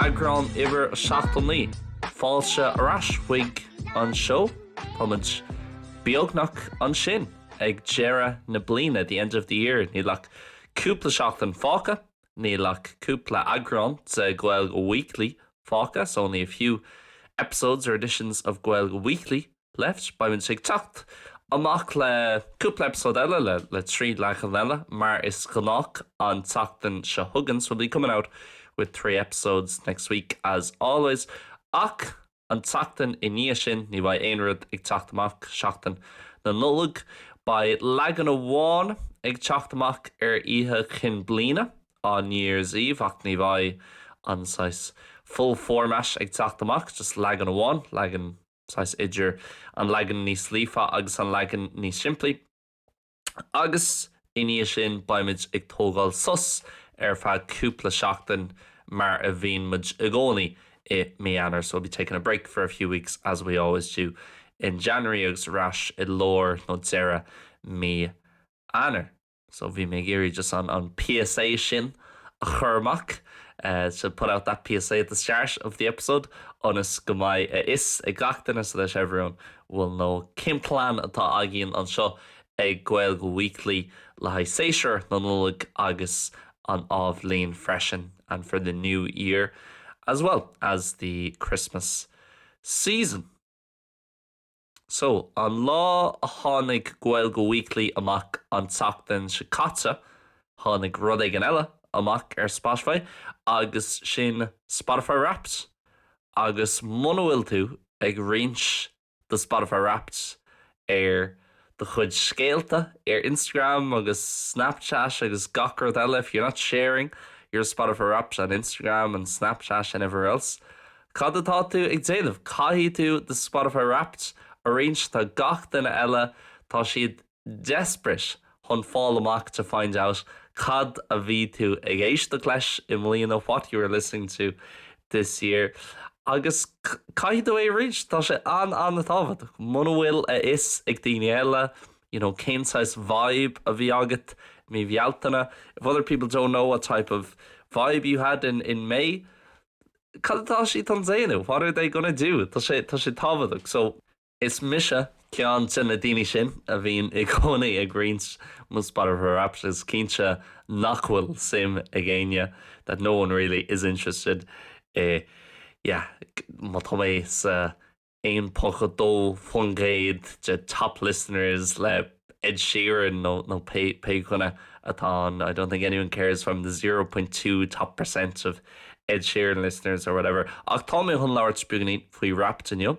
Eagrán uimhir 79 fáilte ar ais chuig an seó táimid beagnach ansin ag deire na bliana the end of the year níl ach cúpla seachtain fágtha Níl ach cúpla eagrán de Gaeilge Weekly fágtha so only a few episodes or editions of Gaeilge Weekly left beimid ag teacht amach le cúpla eipeasóid eile le le trí leagan eile mar is gnách an tseachtain seo chugainn so we'll be coming out with three episodes next week as always ach An tseachtain i ndiaidh sin, ní bheidh aon rud ag teacht amach, Seachtain na Nollag. Beidh leagan amháin ag teacht amach ar Oíche Chinn Bliana, on New Year's Eve, ach ní bheidh an saghas full format ag teacht amach, just leagan amháin, leagan saghas idir an leagan níos líofa agus an leagan níos simplí. agus i ndiaidh sin beimid ag tógáil sos ar feadh cúpla seachtain mar a bhíonn muid i gcónaí i mí Eanáir so we'll be taking a break for a few weeks as we always do in January agus ar ais i lár nó deireadh mí Eanáir. So bhí mé ag iarraidh just an an PSA sin a chur amach to put out that PSA at the start of the episode ionas go mbeidh a fhios ag gach duine so that everyone will know cén plean atá againn anseo ag Gaeilge Weekly le haghaidh séasúr na Nollag agus an athbhliain freisin and for the new year as well as the Christmas season. So, an lá a tháinig Gaeilge Weekly amach an tseachtain seo caite, tháinig rud éigin eile amach ar Spotify agus sin Spotify Wrapped Agus muna bhfuil tú ag roinnt do Spotify Wrapped ar do chuid scéalta ar Instagram agus Snapchat agus gach rud eile, if you're not sharing your Spotify Wrapped on Instagram and Snapchat and everywhere else, cad atá tú ag déanamh? Caithfidh tú do Spotify Wrapped a roinnt, tá gach duine eile, tá siad. desperate chun fáil amach to find out cad a bhí tú ag éisteacht leis i mbliana what you were listening to this year agus caithfidh tú é a roinnt, tá sé an-an-tábhachtach. Muna bhfuil a fhios ag daoine eile you know cén saghas vibe a bhí agat i mí Bhealtaine if other people don't know what type of vibe you had in in May cad atá siad chun déanamh what are they gonna do tá sé tá sé tábhachtach so Is mise ceann de na daoine sin a bhíonn i gcónaí ag roinnt mo Spotify Wrapped is cinnte nach bhfuil suim ag éinne that no one really is interested i yeah má tá mé sa 0.1% de top listeners le Ed Sheeran nó nó pé pé dhuine atá ann I don't think anyone cares from the 0.2 top percent of Ed Sheeran listeners or whatever ach tá mé chun labhairt beagainín faoi Wrapped inniu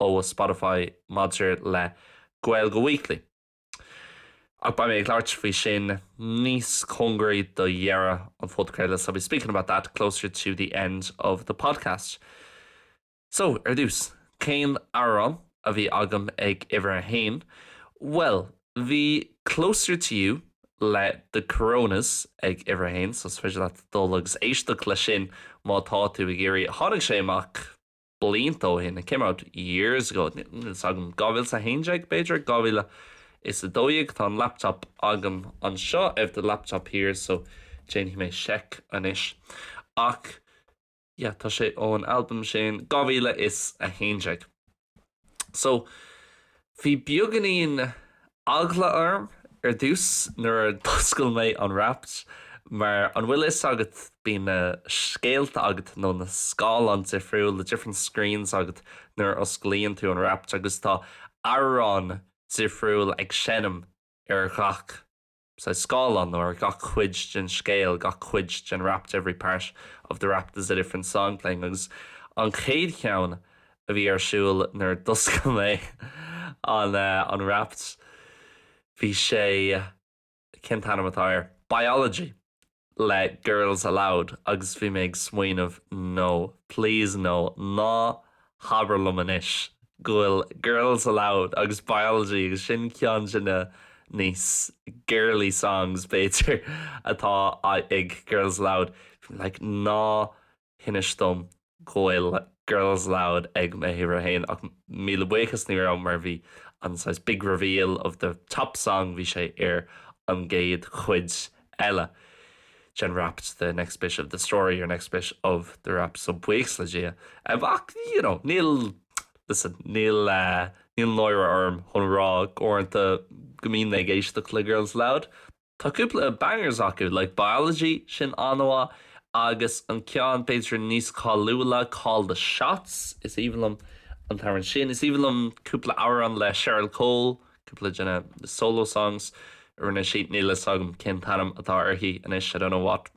ó Spotify maidir le Gaeilge Weekly ach beidh mé ag labhairt faoi sin níos cóngaraí do dheireadh an phodchraoladh so I'll be speaking about that closer to the end of the podcast. So, ar dtús, cén amhrán a bhí agam ag uimhir a haon? Bhuel, bhí Closer to You le The Coronas ag uimhir a haon so is féidir leat dul agus éisteacht leis sin má tá tú ag iarraidh. Tháinig sé amach. blianta ó shin, it came out years ago, níl fhios agam, 2011 b'fhéidir, 2012, tá an laptop agam anseo, I have the laptop here, so déanfaidh mé seic anois ach yeah tá sé ón albam sin, 2011. So. Bhí beaganín eagla orm ar dtús nuair a d'oscail mé an Wrapped mar an bhfuil fhios agat bíonn na scéalta agat nó na scáileáin difriúil, the different screens, agat nuair a osclaíonn tú an Wrapped agus tá amhrán difriúil ag seinm ar ghach. scáileán nó ar gach cuid den scéal, gach cuid den Wrapped every part of the Wrapped there's a different song playing agus an chéad cheann a bhí ar siúl nuair a d'oscail mé an an Wrapped bhí sé cén t-ainm atá air? Biology! le Girls Aloud agus bhí mé ag smaoineamh no, please no, ná habair liom anois go bhfuil Girls Aloud agus Biology agus sin ceann de na níos girly songs, b'fhéidir, atá ag Girls Aloud. Bhí mé like, ná. hinis dom go bhfuil Girls Aloud ag m'uimhir a haon ach míle buíochas ní raibh mar bhí an saghas big reveal of the top song bhí sé ar an gcéad chuid eile den Wrapped the next bit of the story or next bit of the rap so buíochas le Dia ach you know níl listen níl níl náire orm chun rá uaireanta go mbíonn mé ag éisteacht le Girls Aloud Tá cúpla bangers acu, like Biology, sin an-mhaith, agus an ceann b'fhéidir níos cáiliúla, Call the Shots, is aoibhinn liom an t-amhrán sin. Is aoibhinn liom cúpla amhrán le Cheryl Cole, cúpla de na solo songs a rinne sí, níl a fhios agam cén t-ainm atá uirthi anois, I don't know what.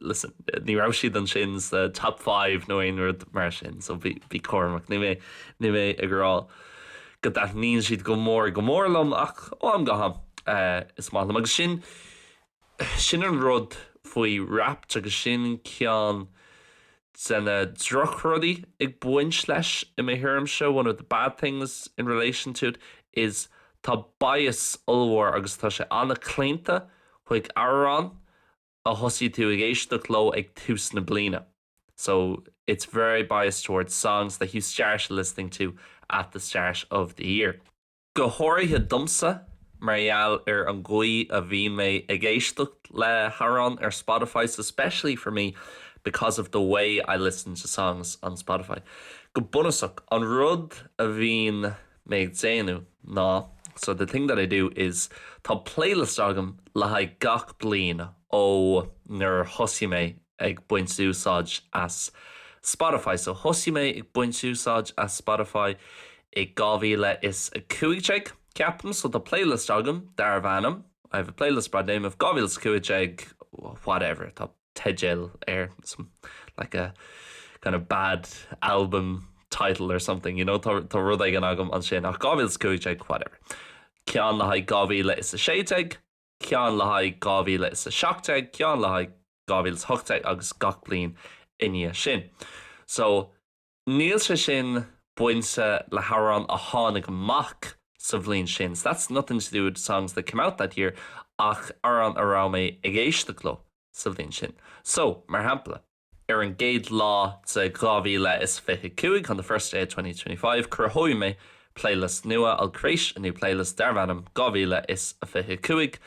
listen, ní raibh siad ansin sa top five nó aon rud mar sin, so bí cúramach. Níl mé níl mé ag rá go dtaitníonn siad go mór go mór liom ach ó am go ham eh, is maith liom agus sin sin an rud faoi Wrapped agus sin ceann de na drochrudaí ag baint leis i mo thuairimse, one of the bad things in relation to it is tá bias ollmhór agus tá sé an-chlaonta chuig amhráin a thosaigh tú ag éisteacht leo ag tús na bliana so it's very biased towards songs that you started listening to at the start of the year. Go háirithe domsa mar gheall ar an gcaoi a bhíonn mé ag éisteacht le hamhráin ar Spotify so especially for me because of the way I listen to songs on Spotify. Go bunúsach, an rud a bhíonn. mé ag déanamh ná so the thing that I do is tá playlist agam le haghaidh gach bliain ó nuair a thosaigh mé ag baint úsáid as Spotify. So thosaigh mé ag baint úsáid as Spotify i 2015, ceapaim, so tá playlist agam darb ainm, I have a playlist by the name of 2015 whatever, tá. teideal air, some like a kind of bad album title or something, you know, tá rud éigin agam ansin ach 2015 whatever. Ceann le haghaidh 2016, ceann le haghaidh 2017, ceann le haghaidh 2018 agus gach bliain i ndiaidh sin. So Níl sé sin bainte le hamhráin a tháinig amach sa bhliain sin, so that's nothing to do with the songs that came out that year, ach amhráin a raibh mé ag éisteacht leo sa bhliain sin. So, mar shampla. Ar an gcéad lá de 2025, on the first day of 2025, cruthóidh mé playlist nua I'll create a new playlist darb ainm 2025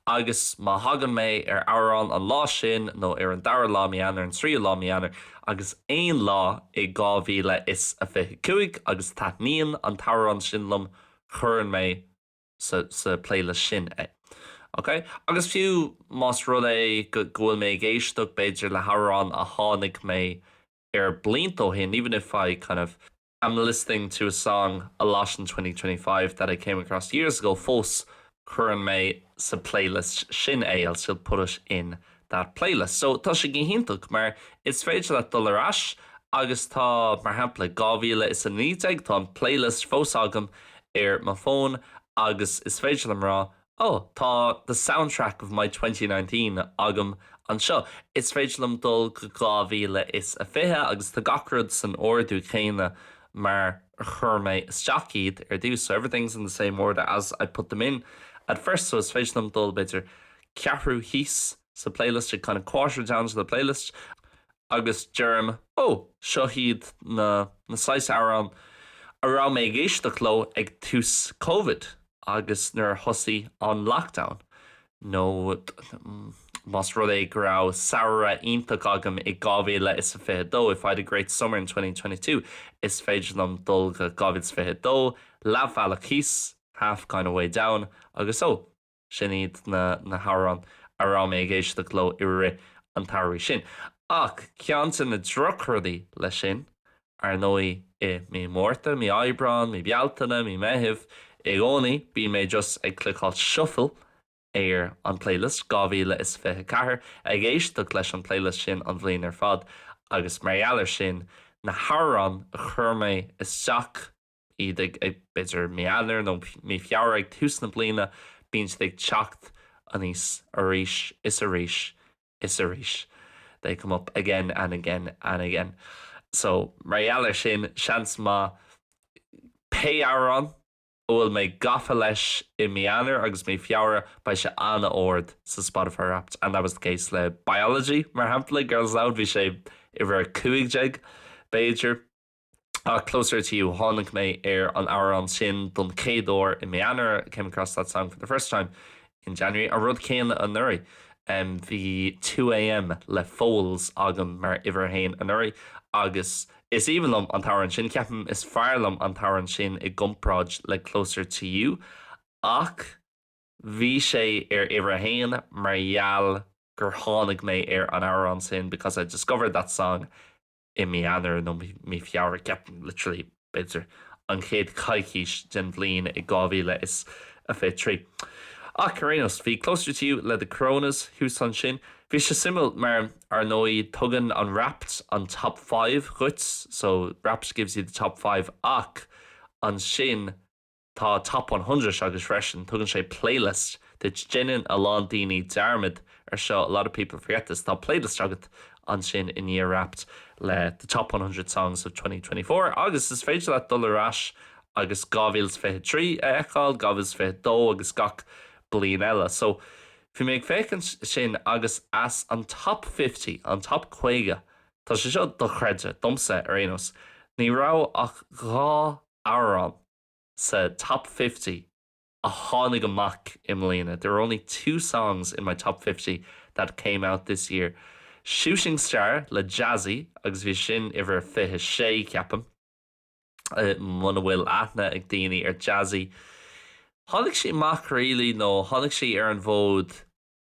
agus má thagann mé ar amhrán an lá sin nó ar an dara lá mí Eanáir an tríú lá mí Eanáir agus aon lá i 2025 agus taitníonn an t-amhrán sin liom cuireann mé sa sa playlist sin é ok agus fiú más rud é go go bhfuil mé ag éisteacht b'fhéidir le hamhrán a tháinig mé air blianta ó shin even if I kind of am listening to a song a lot in 2025 that I came across years ago fós cuireann mé sa playlist sin é I'll still put it in that playlist so tá sé go hiontach mar is féidir leat dul ar ais agus tá mar shampla 2019 tá an playlist fós agam ar mo fón agus is féidir liom rá Ó, tá The Soundtrack of my twenty nineteen agam anseo. Is féidir liom dul go 2020 agus tá gach rud san ord céanna mar a chuir mé isteach iad ar dtús, so everything's in the same order as I put them in at first. So is féidir liom dul b'fhéidir ceathrú thíos. sa playlist ag kinda quarter down to the playlist agus deirim ó so hiad na saghas amhrán a raibh mé ag éisteacht leo ag tús covid agus nuair a thosaigh an lockdown nó más rud é go raibh samhradh iontach agam i 2022 if I had a great summer in 2022 is féidir liom dul go 2022 leathbhealach thíos half kinda way down agus ó Sin iad na hamhráin a raibh mé ag éisteacht leo i rith an tsamhraidh sin. Ach ceann de na drochrudaí leis sin, ar ndóigh, i mí Márta, mí Aibreán, mí Bealtaine, mí Meitheamh, i gcónaí bíonn mé just ag cliceáil shuffle ar an playlist 2024, ag éisteacht leis an playlist sin an bhliain ar fad, agus mar gheall air sin, na hamhráin a chuir mé isteach iad ag b'fhéidir mí Eanáir nó mí Feabhra ag tús na bliana, bíonn siad ag teacht aníos arís is arís is arís, they come up again and again and again. So mar gheall ar sin, seans maith pé amhrán a bhfuil mé gafa leis i mí Eanáir agus mí Feabhra, beidh sé an-ard sa Spotify Wrapped and that was the case le Biology, mar shampla, Girls Aloud, bhí sé uimhir a cúig déag, b'fhéidir. ach Closer to You. Tháinig mé ar an amhrán sin don chéad uair i mí Eanáir, I came across that song for the first time in January. An rud céanna anuraidh, bhí Two A.M. le Foals agam mar uimhir a haon anuraidh agus is aoibhinn liom an t-amhrán sin. Ceapaim is fearr liom an t-amhrán sin i gcomparáid le Closer to You ach bhí sé uimhir a haon mar gheall gur tháinig mé ar an amhrán sin because I discovered that song i mí Eanáir nó mí Feabhra, ceapaim, literally, b'fhéidir, an chéad coicís den bhliain i 2023. Ach, ar aon nós, bhí Closer To You le The Coronas thuas ansin. Bhí sé suimiúil mar, ar ndóigh, tugann an Wrapped an Top Five dhuit, so, Wrapped gives you the Top Five, ach ansin, Tá Top One Hundred agus freisin tugann sé playlist duit déanann a lán daoine dearmad ar seo a lot of people forget this tá playlist agat ansin i ndiaidh Wrapped le the Top One Hundred Songs of 2024 agus is féidir leat dul ar ais agus 2023 a fheiceáil 2022 agus gach bliain eile so bhí mé ag féachaint sin agus as an Top Fifty an Top 50 tá sé seo dochreidte domsa ar aon nós ní raibh ach dhá amhrán sa Top Fifty a tháinig amach i mbliana, There are only two songs in my Top Fifty that came out this year, Shooting Star le Jazzy agus bhí sin uimhir fiche sé, ceapaim. Muna bhfuil aithne ag daoine ar Jazzy, tháinig sí amach really nó tháinig sí ar an bhfód,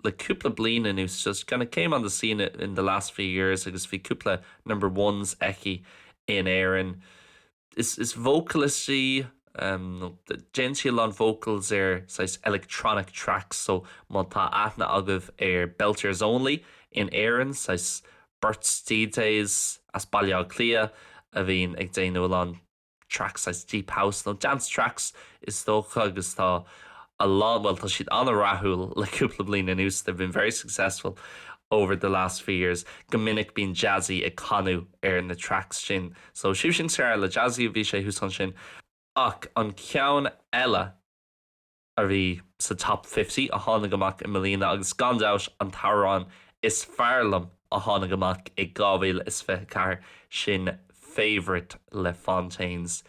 le cúpla bliain anuas just kind of came on the scene in the last few years agus bhí cúpla number ones aici in Éirinn is vocalist í, déanann sí a lán vocals ar saghas electronic tracks so má tá aithne agaibh ar Belters Only in Éirinn saghas beirt DJs as Baile Átha Cliath a bhíonn ag déanamh a lán tracks as deep house nó dance tracks is dócha agus tá a lán, bhuel tá siad an-rathúil le cúpla bliain anuas, they've been very successful over the last few years. Go minic bíonn Jazzy ag canadh ar na tracks sin so Shooting Star le Jazzy bhí sé thuas ansin ach an ceann eile, a bhí sa Top Fifty a tháinig amach i mbliana agus gan dabht an t-amhrán is fearr liom a tháinig amach i 2024, sin Favourite le Fontaines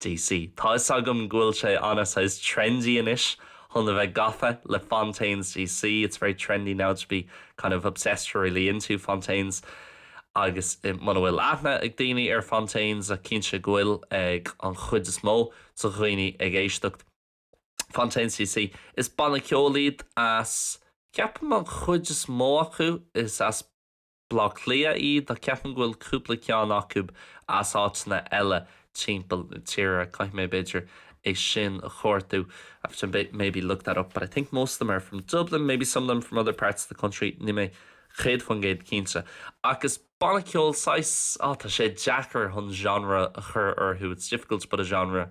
DC. Tá 'fhios agam go bhfuil sé ana saghas trendy anois chun a bheith gafa le Fontaines DC, it's very trendy now to be kind of obsessed or really into Fontaines agus muna bhfuil aithne ag daoine ar Fontaines, cinnte go bhfuil ag an chuid is mó de dhaoine ag éisteacht. Fontaines DC. Is banna ceoil iad as, ceapaim an chuid is mó acu is as Bleá Cliath iad ach ceapaim go bhfuil cúpla ceann acu as áiteanna eile timpeall na tíre. Caithfidh mé b'fhéidir é sin a chuartú I have to maybe look that up but I think most of them are from Dublin, maybe some of them from other parts of the country, níl mé 100% cinnte. Ach is. Banna ceoil saghas, ah tá sé deacair chun genre a chur orthu, it's difficult to put a genre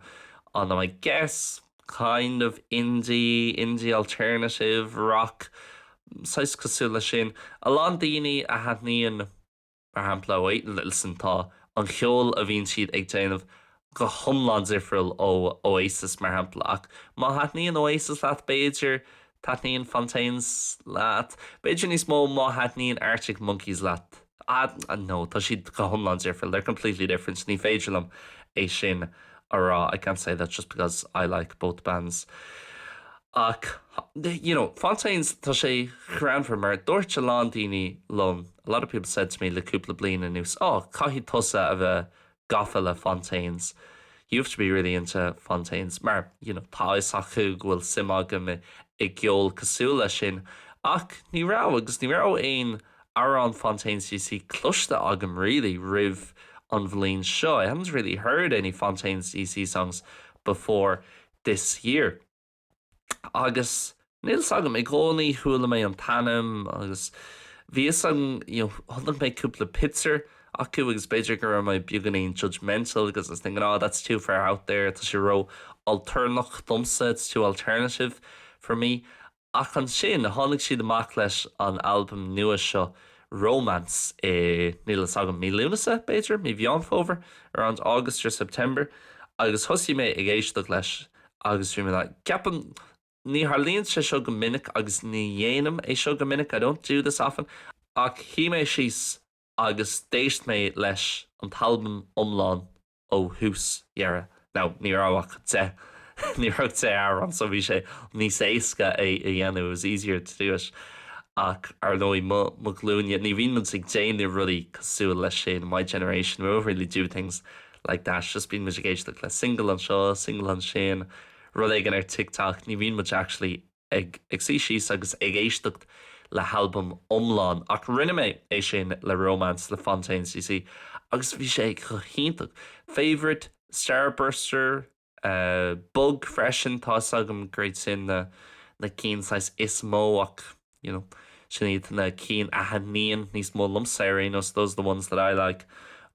on them, I guess kind of indie, indie alternative rock, saghas cosúil leis sin. A lán daoine a thaitníonn mar shampla, wait, listen tá an cheol a bhíonn siad ag déanamh go hiomlán difriúil ó Oasis, mar shampla, ach má thaitníonn Oasis leat, b'fhéidir taitníonn Fontaines leat, b'fhéidir níos mó má thaitníonn Arctic Monkeys leat. Ah, no, tá siad go hiomlán difriúil, they're completely different, ní féidir liom é sin a rá, I can't say that just because I like both bands. Ach, you know, Fontaines, tá sé greannmhar mar dúirt a lán daoine liom, a lot of people said to me le cúpla bliain anuas, oh, caithfidh tusa a bheith gafa le Fontaines. You have to be really into Fontaines mar you know tá a fhios acu go bhfuil suim agam i gceol cosúil leis sin ach ní raibh agus ní raibh aon amhrán Fontaines DC cloiste agam really roimh an bhliain seo. I hadn't really heard any Fontaines DC songs before this year. agus níl fhios agam, i gcónaí chuala mé an t-ainm agus bhí fhios agam, you know, chonaic mé cúpla pictiúr acu agus b'fhéidir go raibh mé beagáinín judgemental because I was thinking, oh that's too far out there, tá sé ró alternach domsa, it's too alternative for me. Ach ansin tháinig siad amach leis an albam nua seo Romance i, níl fhios agam, mí Lúnasa b'fhéidir, mí Mheán Fómhair, around August or September agus thosaigh mé ag éisteacht leis. Agus bhí mé like, ceapaim, ní tharlaíonn sé seo go minic agus ní dhéanaim é seo go minic, I don't do this often, ach shuigh mé síos agus d'éist mé leis an albam iomlán ó thús deireadh. Now, ní raibh ach deich, ní raibh deich amhrán so bhí sé níos éasca é a dhéanamh, it was easier to do it. Ach, ar ndóigh, mo, mo ghlúinne, ní bhíonn muid ag déanamh rudaí cosúil leis sin, in my generation, we don't really do things like that, just bíonn muid ag éisteacht le single anseo, single ansin, rud éigin ar TikTok, ní bhíonn muid actually ag ag suí síos agus ag éisteacht le halbam iomlán ach rinne mé é sin le Romance le Fontaines D.C agus bhí sé go hiontach. Favourite? Starburster? Bug freisin, tá 'fhios agam gur iad sin na na cinn saghas is mó ach you know sin iad na cinn a thaitníonn níos mó liomsa ar aon nós those are the ones that I like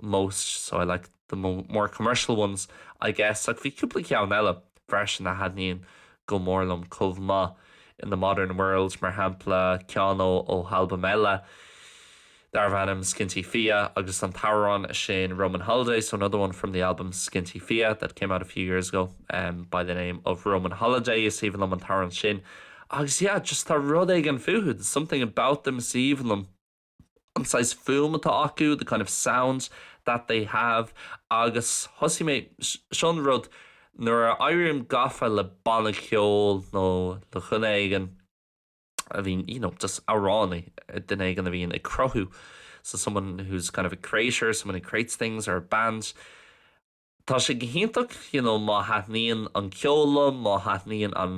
most so I like the mo more commercial ones I guess ach bhí cúpla ceann eile freisin a thaitníonn go mór liom chomh maith In the Modern World mar shampla ceann ó ó halbam eile darbh ainm Skinty Fia agus an t-amhrán sin Roman Holiday so another one from the album Skinty Fia that came out a few years ago um by the name of Roman Holiday is aoibhinn liom an t-amhrán sin agus yeah just tá rud éigin fúthu there's something about them is aoibhinn liom an saghas fuaim atá acu the kind of sounds that they have agus thosaigh mé seo an rud nuair a éirím gafa le banna ceoil nó le dhuine éigin a bhíonn you know just amhránaí duine éigin a bhíonn ag cruthú so someone who's kind of a creator someone who creates things or a band Tá sé go hiontach you know má thaitníonn an ceol liom má thaitníonn an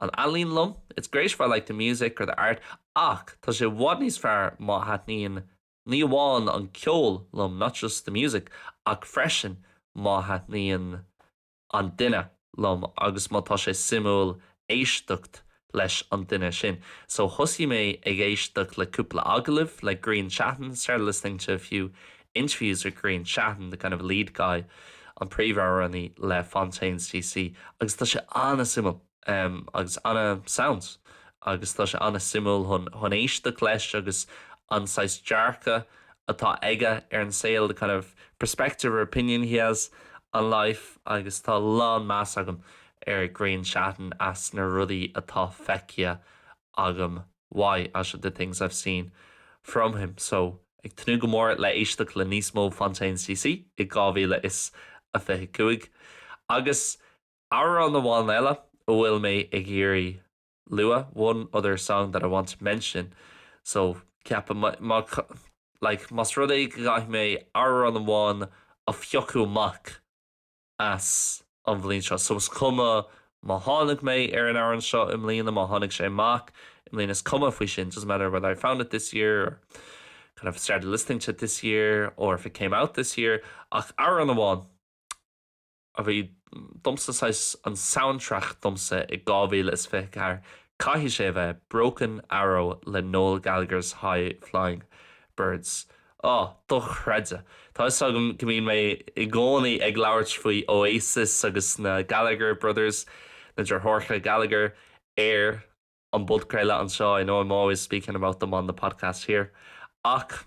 an ealaín liom it's great if I like the music or the art ach tá sé i bhfad níos fearr má thaitníonn ní amháin an ceol liom not just the music ach freisin má thaitníonn an duine liom agus má tá sé suimiúil éisteacht leis an duine sin. So thosaigh mé ag éisteacht le cúpla agallamh le Grian Chatten, started listening to a few interviews with Grian Chatten, the kind of lead guy, an príomhamhránaí le Fontaines DC, agus tá sé an-suimiúil. em agus ana sounds agus tá sé ana suimiúil chun chun éisteacht leis agus an saghas dearcadh atá aige ar an saol the kind of perspective or opinion he has on life agus tá lán meas agam ar Grian Chatten as na rudaí atá feicthe agam uaidh as the things I've seen from him so ag tnúth go mór le éisteacht le níos mó Fontaines DC i 2025 agus. Amhrán amháin eile a bhfuil mé ag iarraidh a lua, one other song that I want to mention. So, ceapaim, má, like, más rud é go gcaithfidh mé amhrán amháin a phiocadh amach as an bhliain seo, so is cuma má tháinig mé ar an amhrán seo i mbliana, má tháinig sé amach i mbliana, is cuma faoi sin, doesn't matter whether I found it this year or kind of started listening to it this year or if it came out this year, ach amhrán amháin. a bhí domsa saghas an soundtrack domsa i 2024 caithfidh sé a bheith Broken Arrow le Noel Gallagher's High Flying Birds oh dochreidte tá 'fhios agam go mbíonn mé i gcónaí ag labhairt faoi Oasis agus na Gallagher Brothers na deartháireacha Gallagher ar an bpodchraoladh anseo I know I'm always speaking about them on the podcast here ach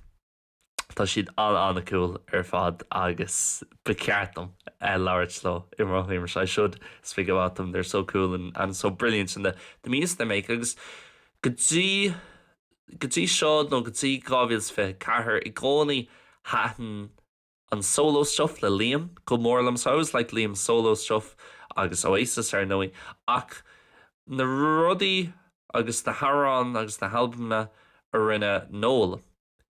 Tá siad an-an-cool ar fad agus ba cheart dom labhairt leo i mo thuairimse, I should speak about them, they're so cool and and so brilliant in the the music they make agus go dtí go dtí seo nó go dtí 2024 i gcónaí thaitin an solo stuff le Liam go mór liom, so I always liked Liam's solo stuff agus Oasis ar ndóigh ach na rudaí agus na hamhráin agus na halbamanna a rinne Noel.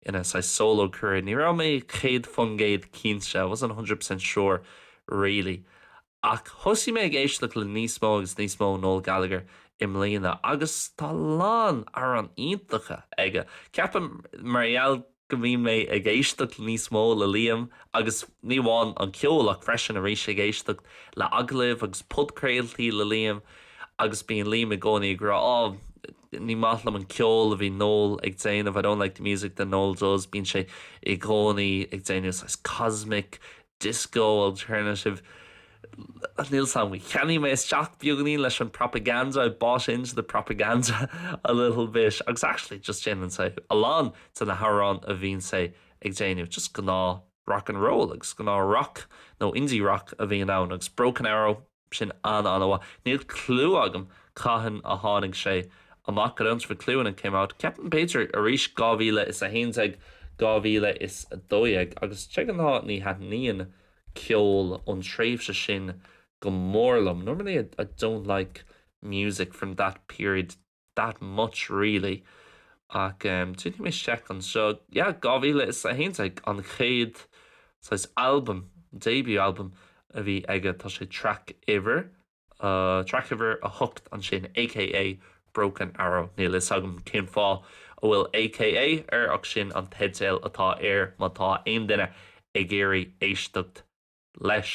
ina saghas solo career ní raibh mé 100% cinnte, I wasn't 100% sure really, ach thosaigh mé ag éisteacht le níos mó agus níos mó Noel Gallagher i mbliana agus tá a lán amhrán iontacha aige. Ceapaim mar gheall go mbíonn mé ag éisteacht níos mó le Liam agus ní amháin an ceol ach freisin arís ag éisteacht le agallaimh agus podchraoltaí le Liam, agus bíonn Liam i gcónaí ag rá oh ní maith liom an ceol a bhíonn Noel ag déanamh I don't like the music that Noel does bíonn sé i gcónaí ag déanamh saghas cosmic, disco, alternative níl 'fhios agam cheannaigh mé isteach beagainín leis an propaganda I bought into the propaganda a little bit agus actually just déanann sé a lán de na hamhráin a bhíonn sé ag déanamh just gnáth rock and roll agus gnáth rock nó indie rock a bhíonn ann agus Broken Arrow Sin an-an-mhaith. Níl clue agam cathain a tháinig sé amach, I don't have a clue when it came out. Ceapaim b'fhéidir arís 2011, 2012 agus de ghnáth ní thaitníonn ceol ón tréimhse sin go mór liom, normally I don't like music from that period. that much really ach em déanfaidh mé seic anseo yeah 2011 an chéad saghas albam debut albam a bhí aige tá sé track uimhir a track uimhir a hocht ansin aka Broken Arrow níl fhios agam cén fáth a bhfuil aka air ach sin an teideal atá air má tá aon duine ag iarraidh éisteacht leis.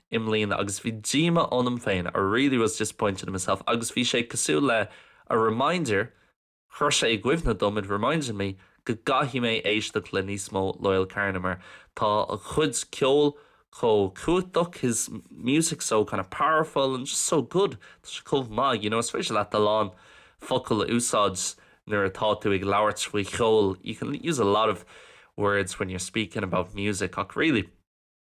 i mbliana agus bhí díoma ionam féin, I really was disappointed in myself agus bhí sé cosúil le a reminder, chuir sé i gcuimhne dom, it reminded me go gcaithfidh mé éisteacht le níos mó Loyle Carner mar tá a chuid ceoil chomh cumhachtach, his music so kind of powerful and just so good, tá sé chomh maith, you know, is féidir leat a lán focal a úsáid nuair atá tú ag labhairt faoi cheol, you can use a lot of words when you're speaking about music ach really.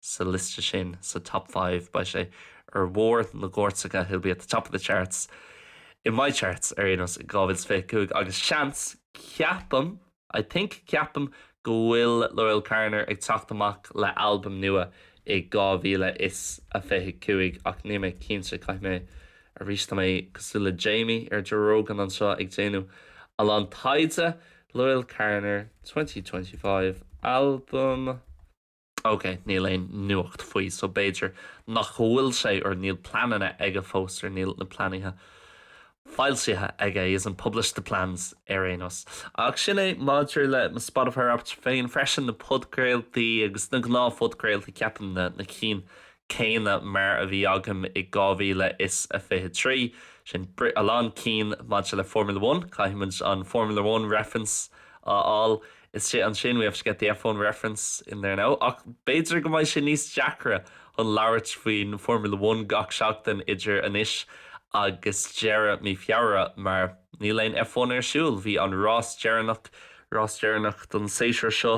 sa liosta sin, sa Top Five. Beidh sé ar bharr na gcairteacha, he'll be at the top of the charts, in my charts, ar aon nós, in 2025 agus seans, ceapaim, I think, ceapaim, go bhfuil Loyle Carner ag teacht amach le albam nua i 2025 ach níl mé cinnte, caithfidh mé, arís, tá mé cosúil le Jamie ar Joe Rogan anseo ag déanamh a lán taighde, Loyle Carner 2025 album. OK, níl aon nuacht faoi so b'fhéidir nach bhfuil sé or níl pleananna aige fós or níl na pleanaithe foilsithe aige, he hasn't published the plans ar aon nós. Ach sin é maidir le mo Spotify Wrapped féin. Freisin na podchraoltaí agus na gnáthphodchraoltaí ceapaim, na na cinn céanna mar a bhí agam i 2023. Sin a lán cinn maidir le Formula One, caithfidh muid an Formula One reference a fháil. Isteach ansin, we have to get the F1 reference in there now, ach b'fhéidir go mbeidh sé níos deacra chun labhairt faoin Formula One gach seachtain idir anois agus deireadh mí Feabhra mar níl aon F1 ar siúl. Bhí an rás deireanach, rás deireanach don séasúr seo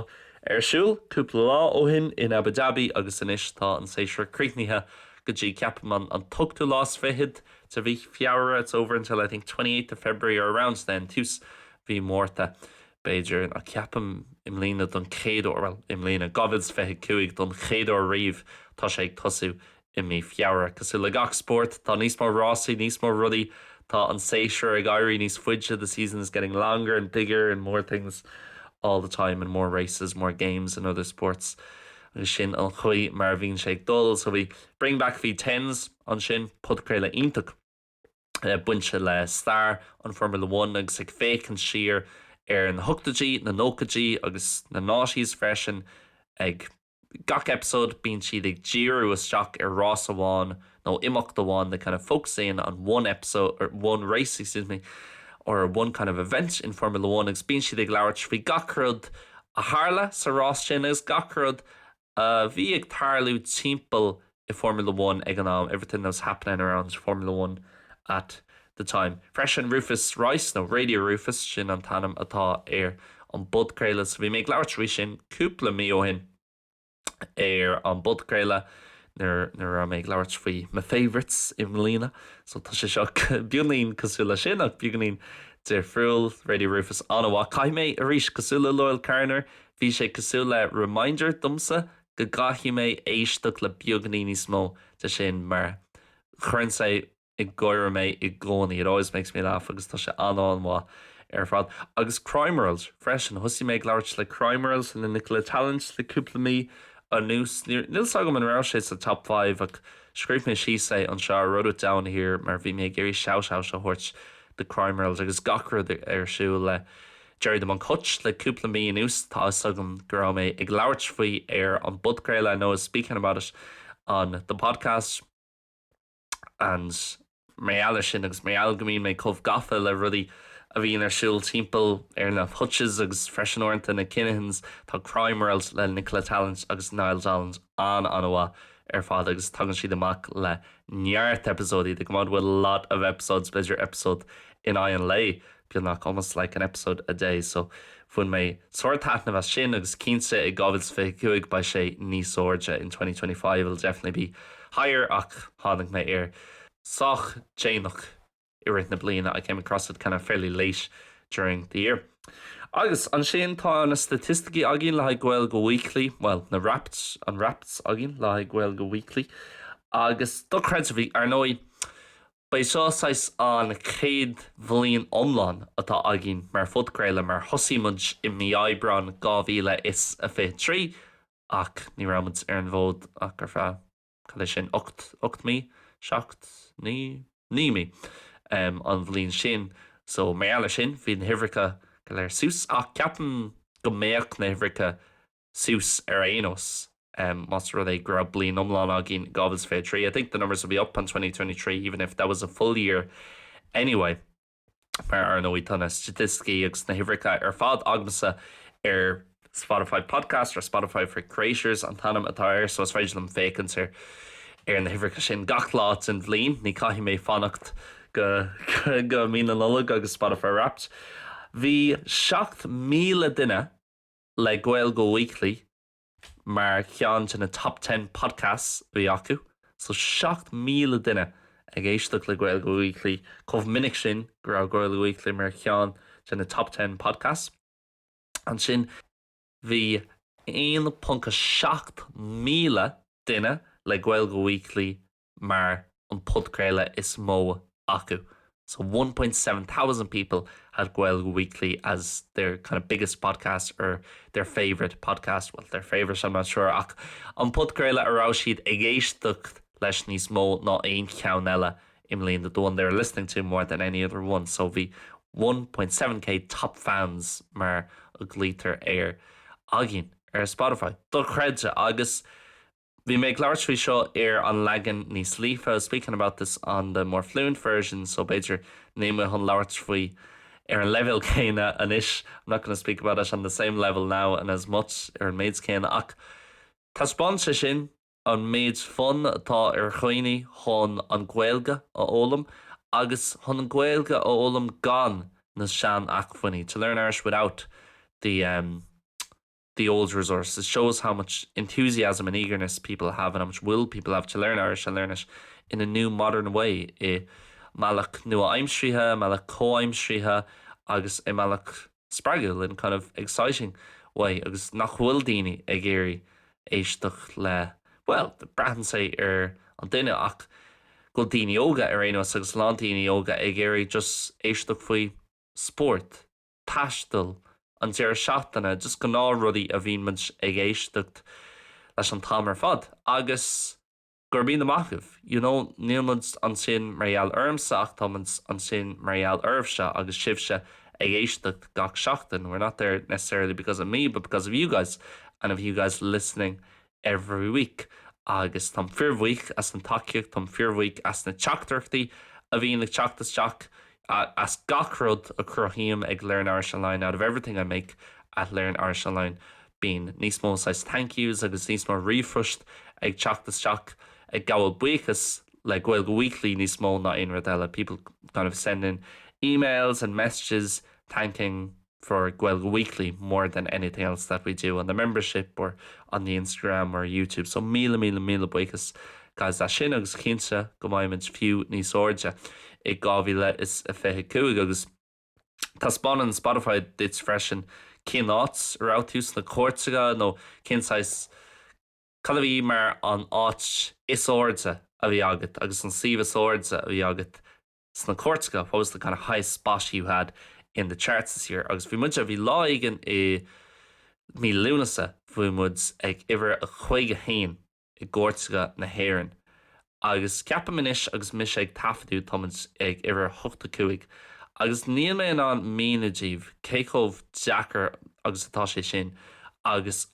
ar siúl cúpla lá ó shin in Abu Dhabi agus anois tá an séasúr críochnaithe go dtí, ceapaim, an, an t-ochtú lá is fichead de mhí Feabhra, it's over until I think 28th of February or around then, tús mhí Mhárta. b'fhéidir, ach ceapaim i mbliana don chéad uair, bhuel, i mbliana, 2025, don chéad uair riamh, tá sé ag tosú i mí Feabhra. Cosúil le gach spórt, tá níos mó rásaí, níos mó rudaí, tá an séasúr ag éirí níos faide, the season is getting longer and bigger and more things all the time and more races, more games in other sports agus sin an chaoi mar a bhíonn sé ag dul, so bhí Bring Back V10s ansin, podchraoladh iontach. bainte le stair an Formula One agus ag féachaint siar ar na hochtaidí, na nóchaidí agus na noughties freisin. Ag gach episode bíonn siad ag díriú isteach ar rás amháin nó imeacht amháin, they kind of focus in on one episode or one race, excuse me, or one kind of event in Formula One agus bíonn siad ag labhairt faoi gach rud a tharla sa rás sin agus gach rud a bhí ag tarlú timpeall i Formula One ag an am, everything that was happening around Formula One at the time. Freisin Rufus Rice, nó Radio Rufus, sin an t-ainm atá ar an bpodchraoladh so bhí mé ag labhairt faoi sin cúpla mí ó shin ar an bpodchraoladh nuair a raibh mé ag labhairt faoi my favourites i mbliana so tá sé seo beagáinín cosúil leis sin ach beagáinín difriúil. Radio Rufus an-mhaith. Caithfidh mé arís cosúil le Loyle Carner Bhí sé cosúil le reminder domsa go gcaithfidh mé éisteacht le beagáinín níos mó de sin mar cuireann sé ag gáire mé i gcónaí, it always makes me laugh agus tá sé an-an-mhaith ar fad. Agus Crime World freisin, thosaigh mé ag labhairt le Crime World, le Nicola Tallant le cúpla mí anuas, níl 's agam an raibh sé sa top five ach scríobh mé síos é anseo, I wrote it down here mar bhí mé ag iarraidh shout out a thabhairt do Crime World agus gach rud ar siúl le Gerry the Monk Hutch le cúpla mí anuas, tá 'fhios agam go raibh mé ag labhairt faoi ar an bpodchraoladh I know I was speaking about it on the podcast and mar gheall ar sin agus mar gheall go mbíonn mé chomh gafa le rudaí a bhíonn ar siúl timpeall ar na Hutches agus freisin uaireanta na Kinahans, tá Crime World le Nicola Tallant agus Niall Donald an-an-mhaith ar fad agus tagann siad amach le neart eipeasóidí, they come out with a lot of episodes, b'fhéidir eipeasóid in aghaidh an lae. beagnach almost like an episode a day so bhain mé sár taitneamh as sin agus cinnte i 2025 beidh sé níos airde in 2025 it'll definitely be higher ach tháinig mé air sách déanach i rith na bliana I came across it kind of fairly late during the year agus ansin tá na staitisticí againn le haghaidh Gaeilge Weekly bhuel na Wrapped an Wrapped againn le haghaidh Gaeilge Weekly agus dochreidte ar ndóigh Ba é seo saghas an chéad bhliain iomlán atá againn mar phodchraoladh mar thosaigh muid i mí Aibreáin 2023 ach ní raibh muid ar an bhfód ach ar feadh, cad é sin, ocht, ocht mí? seacht, naoi, naoi mí an bhliain sin so mar gheall ar sin bhí na huimhreacha go léir suas ach ceapaim go mbeadh na huimhreacha suas ar aon nós, más rud é go raibh bliain iomlán againn, 2023, I think the numbers will be up on 2023 even if that was a full year anyway. Mar ar ndóigh, tá na staitisticí agus na huimhreacha ar fad agamsa ar Spotify Podcasters, Spotify for Creators an t-ainm atá air, so is féidir liom féachaint ar ar na huimhreacha sin gach lá den bhliain. Ní caithfidh mé fanacht go go mí na Nollag agus Spotify Wrapped. Bhí 7,000 duine le Gaeilge Weekly mar cheann de na Top Ten Podcasts a bhí acu, so 7,000 duine ag éisteacht le Gaeilge Weekly chomh minic sin go raibh Gaeilge Weekly mar cheann de na Top Ten Podcasts. Ansin bhí 1.7 míle duine le Gaeilge Weekly mar an podchraoladh is mó acu so 1.7 thousand people had Gaeilge Weekly as their kind of biggest podcast or their favourite podcast, well their favourite I'm not sure ach an podchraoladh a raibh siad ag éisteacht leis níos mó ná aon cheann eile i mbliana, the one they were listening to more than any other one, so bhí 1.7k top fans mar a ghlaoitear air againn ar Spotify. Dochreidte agus Bhí mé ag labhairt faoi seo ar an leagan níos líofa, speaking about this on the more fluent version, so b'fhéidir níl mé chun labhairt faoi ar an leibhéal céanna anois, I'm not going to speak about it on the same level now and as much, ar an méid céanna, ach taispeánann sé sin an méid fonn atá ar dhaoine chun an Ghaeilge a fhoghlaim agus chun an Ghaeilge a fhoghlaim gan na sean-acfuinní, to learn Irish without the, em, the old resource. It shows how much enthusiasm and eagerness people have and how much will people have to learn Irish and learn it in a new modern way, i mbealach nua-aimseartha, i mbealach comhaimseartha agus i mbealach spreagúil, in a kind of exciting way, agus nach bhfuil daoine ag iarraidh éisteacht le, bhuel, braitheann sé ar an duine ach go bhfuil daoine óga ar aon nós agus a lán daoine óga ag iarraidh just éisteacht faoi spórt. taistil, an deireadh seachtaine, just gnáth rudaí a bhíonn muid ag éisteacht leis an t-am ar fad agus gurb ea, amach uaidh. You know, níl muid ansin mar gheall ormsa ach tá muid ansin mar gheall oraibhse agus sibhse ag éisteacht gach seachtain, we're not there necessarily because of me but because of you guys and of you guys listening every week agus táim fíor bhuíoch as an tacaíocht, táim fíor bhuíoch as na teachtaireachtaí a bhíonn ag teacht isteach, as gach rud a chruthaím ag Learn Irish Online, out of everything I make at Learn Irish Online bíonn níos mó saghas thank yous agus níos mó ríomhphoist ag teacht isteach ag gabháil buíochas le Gaeilge Weekly níos mó ná aon rud eile, people kind of sending emails and messages thanking. for gaeilge weekly more than anything else that we do on the membership or on the instagram or youtube so míle míle míle buíochas guys as sin agus cinnte go mbeimid fiú níos airde i 2025 agus taispeánann spotify duit freisin cén áit a raibh tú sna cairteacha nó cén saghas cad a bhí mar an áit is airde a bhí agat agus an suíomh is airde a bhí agat sna cairteacha, what was the kind of highest spot you had in the charts this year? Agus bhí muid, bhí lá éigin i mí Lúnasa, bhí muid ag uimhir a caoga a haon i gcairteacha na hÉireann. Agus ceapaim anois agus mise ag taifeadadh tá muid ag uimhir a hochtó cúig. Agus níl mé in ann míniú daoibh cé chomh deacair agus atá sé sin agus,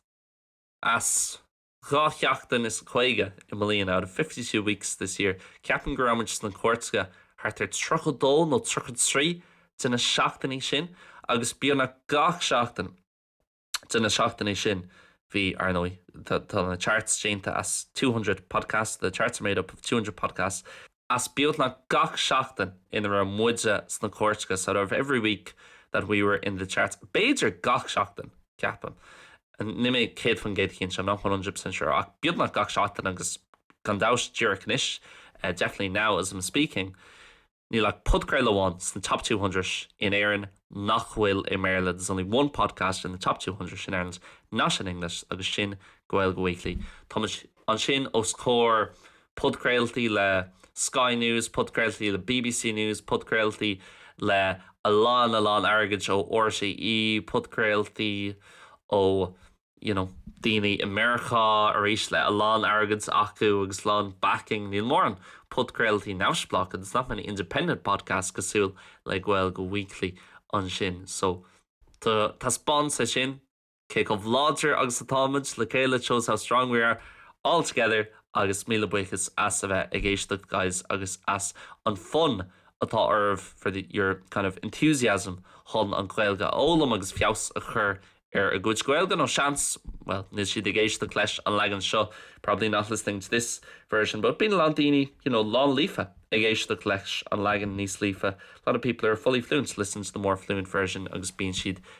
as, Dhá sheachtain is caoga i mbliana, out of fifty two weeks this year. Ceapaim go raibh muid sna cairteacha thart ar tríocha dó nó tríocha trí de na seachtainí sin agus beagnach gach seachtain de na seachtainí sin bhí, ar ndóigh, tá na charts déanta as two hundred podcasts, the charts are made up of two hundred podcasts. as beagnach gach seachtain ina raibh muide sna cairteacha so out of every week that we were in the charts b'fhéidir gach seachtain, ceapaim, níl mé céad faoin gcéad cinnte I'm not one hundred percent sure ach beagnach gach seachtain agus gan dabht díreach anois definitely now as I'm speaking níl ach podchraoladh amháin sna top two hundred in Éirinn nach bhfuil i mBéarla there's only one podcast in the top two hundred in Ireland not in English agus sin Gaeilge Weekly táimid ansin os comhair Podchraoltaí le Sky News, podchraoltaí le bbc News, podchraoltaí le a lán a lán airgid ó RTÉ, podchraoltaí ó you know daoine i Meiriceá arís le a lán airgid acu agus a lán backing. Níl mórán podchraoltaí neamhspleácha, there's not many independent podcasts cosúil le Gaeilge Weekly ansin. So taispeánann sé sin. Cé chomh láidir agus atáimid le chéile shows how strong we are all together agus míle buíochas as a bheith ag éisteacht guys agus as an fonn atá oraibh for your kind of enthusiasm chun an Ghaeilge a fhoghlaim agus feabhas a chur ar a gcuid Gaeilge nó seans well níl siad ag éisteacht leis an leagan seo probably not listening to this version but bíonn a lán daoine you know lán líofa ag éisteacht leis an leagan níos líofa a lot of people are fully fluent listen to the more fluent version agus bíonn siad